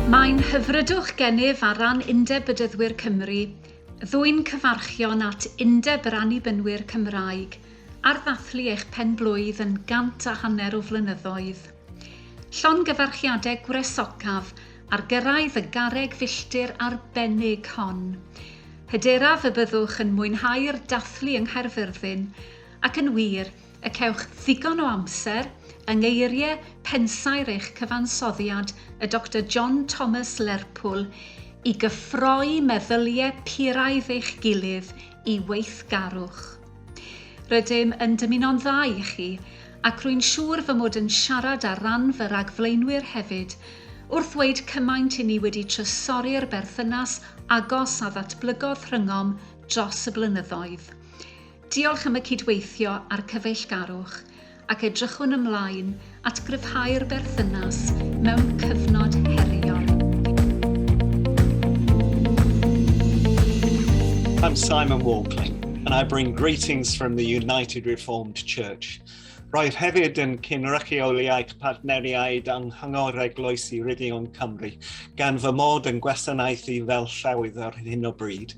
Mae'n hyfrydwch gennyf ar ran Undeb Bedyddwyr Cymru ddwyn cyfarchion at Undeb yr Annibynwyr Cymraeg ar ddathlu eich pen-blwydd yn gant a hanner o flynyddoedd. Llongyfarchiadau gwresocaf ar gyrraedd y garreg filltir arbennig hon. Hyderaf y byddwch yn mwynhau'r dathlu yng Nghaerfyrddin, ac yn wir, y cewch ddigon o amser, yng ngeiriau pensaer eich cyfansoddiad, y Doctor John Thomas Lerpwl, i gyffroi meddyliau puraidd eich gilydd i weithgarwch. Rydym yn dymuno'n dda i chi, ac rwy'n siŵr fy mod yn siarad ar ran fy rhagflaenwyr hefyd, wrth ddweud cymaint i ni wedi trysori'r berthynas agos a ddatblygodd rhyngom dros y blynyddoedd. Diolch am y cydweithio a'r cyfeillgarwch. ac edrychwn ymlaen at gryfhau'r berthynas mewn cyfnod heriol. I'm Simon Walkley, and I bring greetings from the United Reformed Church. Roedd hefyd yn cynrychioliaeth partneriaid anghangor eglwysi Ryddion Cymru, gan fy mod yn gwasanaethu fel llawydd ar hyn o bryd.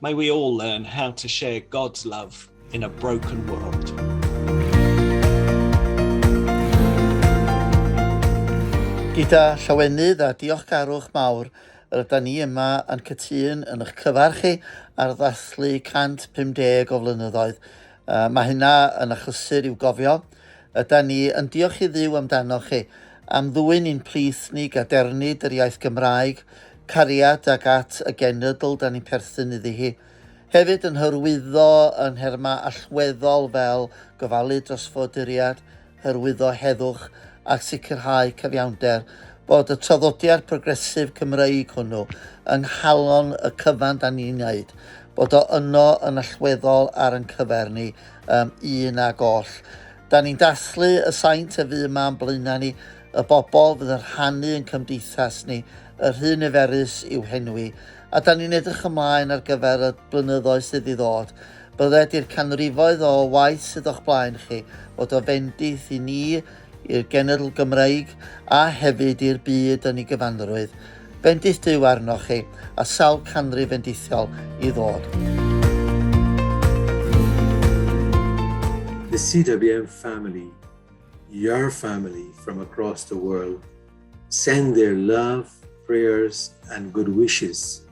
May we all learn how to share God's love in a broken world. Gyda llawenydd a diolchgarwch mawr, rydyn ni yma yn cytun yn eich cyfarch chi ar ddathlu 150 o flynyddoedd. Uh, mae hynna yn achlysur i'w gofio, Ydan ni yn diolch i Dduw amdanoch chi, am ddwyn i'n plith ni gadernid yr iaith Gymraeg, cariad ac at y genedl dan ni'n perthyn iddi hi. Hefyd yn hyrwyddo yn nherma allweddol fel gofalu dros foduriad, hyrwyddo heddwch ac sicrhau cyfiawnder, bod y traddodiad progresif Cymreig hwnnw yng nghalon y cyfan dan ni'n wneud, bod o yno yn allweddol ar yn cyfer ni, um, un ag oll. Da ni'n dathlu y saint y fydd yma yn blaenau ni, y bobl fydd yn rhannu yn cymdeithas ni, y rhy niferus i'w henwi, a da ni'n edrych ymlaen ar gyfer y blynyddoedd sydd i ddod. Bydde di'r canrifoedd o waith sydd o'ch blaen chi fod o fendith i ni i'r genedl Gymreig a hefyd i'r byd yn ei gyfanrwydd. Bendith Duw arnoch chi, a sawl canrif fendithiol i ddod. The CWM family, your family from across the world, send their love, prayers, and good wishes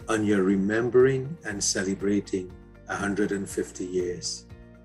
on your remembering and celebrating 150 years.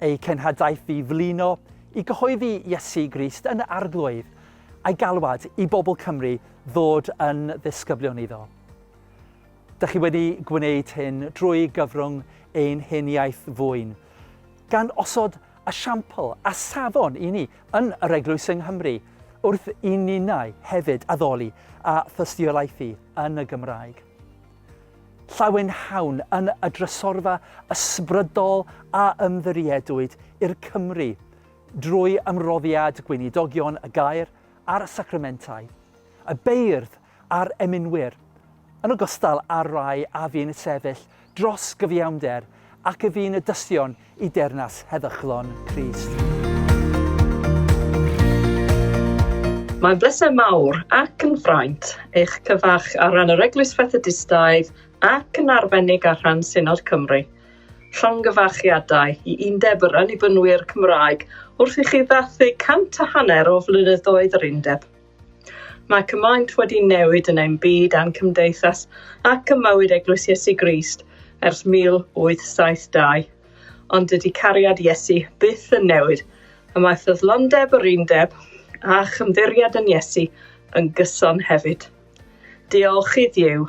Ei cenhadaeth i flino i gyhoeddi Iesu Grist yn y Arglwydd, a'i galwad i bobl Cymru ddod yn ddisgyblion iddo. Dych chi wedi gwneud hyn drwy gyfrwng ein hen iaith fwyn, gan osod esiampl a safon i ni yn yr Eglwys yng Nghymru, wrth i ninnau hefyd addoli a thystiolaethu yn y Gymraeg. llawenhawn yn y drysorfa ysbrydol a ymddiriedwyd i'r Cymry drwy ymroddiad Gweinidogion y Gair a'r Sacramentau, y beirdd a'r eminwyr, yn ogystal â'r rhai a fu'n sefyll dros gyfiawnder Ac y fu'n y dystion i deyrnas heddychlon Crist. Mae'n bleser mawr ac yn fraint eich cyfarch ar ran yr Eglwys Fethodistaidd ac yn arbennig ar rhan Synod Cymru. Llongyfarchiadau i Undeb yr Annibynwyr Cymraeg wrth i chi ddathlu cant a hanner o flynyddoedd yr Undeb. Mae cymaint wedi newid yn ein byd a'n cymdeithas ac ym mywyd Eglwys Iesu Grist ers 1872. Ond dydy cariad Iesu byth yn newid, y mae ffyddlondeb yr undeb a chymddiriad yn Iesu yn gyson hefyd. Diolch i Dduw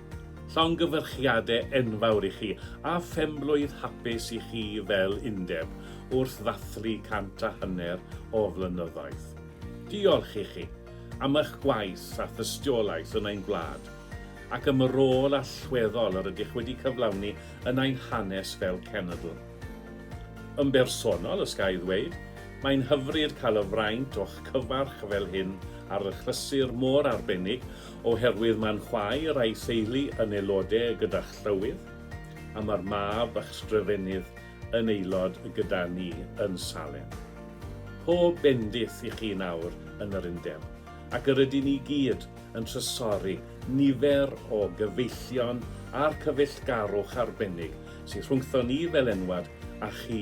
Llongyfarchiade enfawr i chi, a phenblwydd hapus i chi fel undeb, wrth ddathlu cant a hanner o flynyddoedd. Diolch i chi am ych gwaith a thystiolaeth yn ein gwlad, ac am y rôl allweddol yr ydych wedi cyflawni yn ein hanes fel cenedl. Yn bersonol, os ga i ddweud, mae'n hyfryd cael y fraint o'ch cyfarch fel hyn ar y chlysur mor arbennig Oherwydd mae'n chwaer a'i theulu yn aelode gyda'ch llywydd, a mae'r mab a'ch sgrifennydd yn aelod gyda ni yn Salem. Pob bendith i chi nawr yn yr Undeb, ac yr ydyn ni gyd yn trysori nifer o gyfeillion a'r cyfeillgarwch arbennig sydd rhwngthon ni fel enwad a chi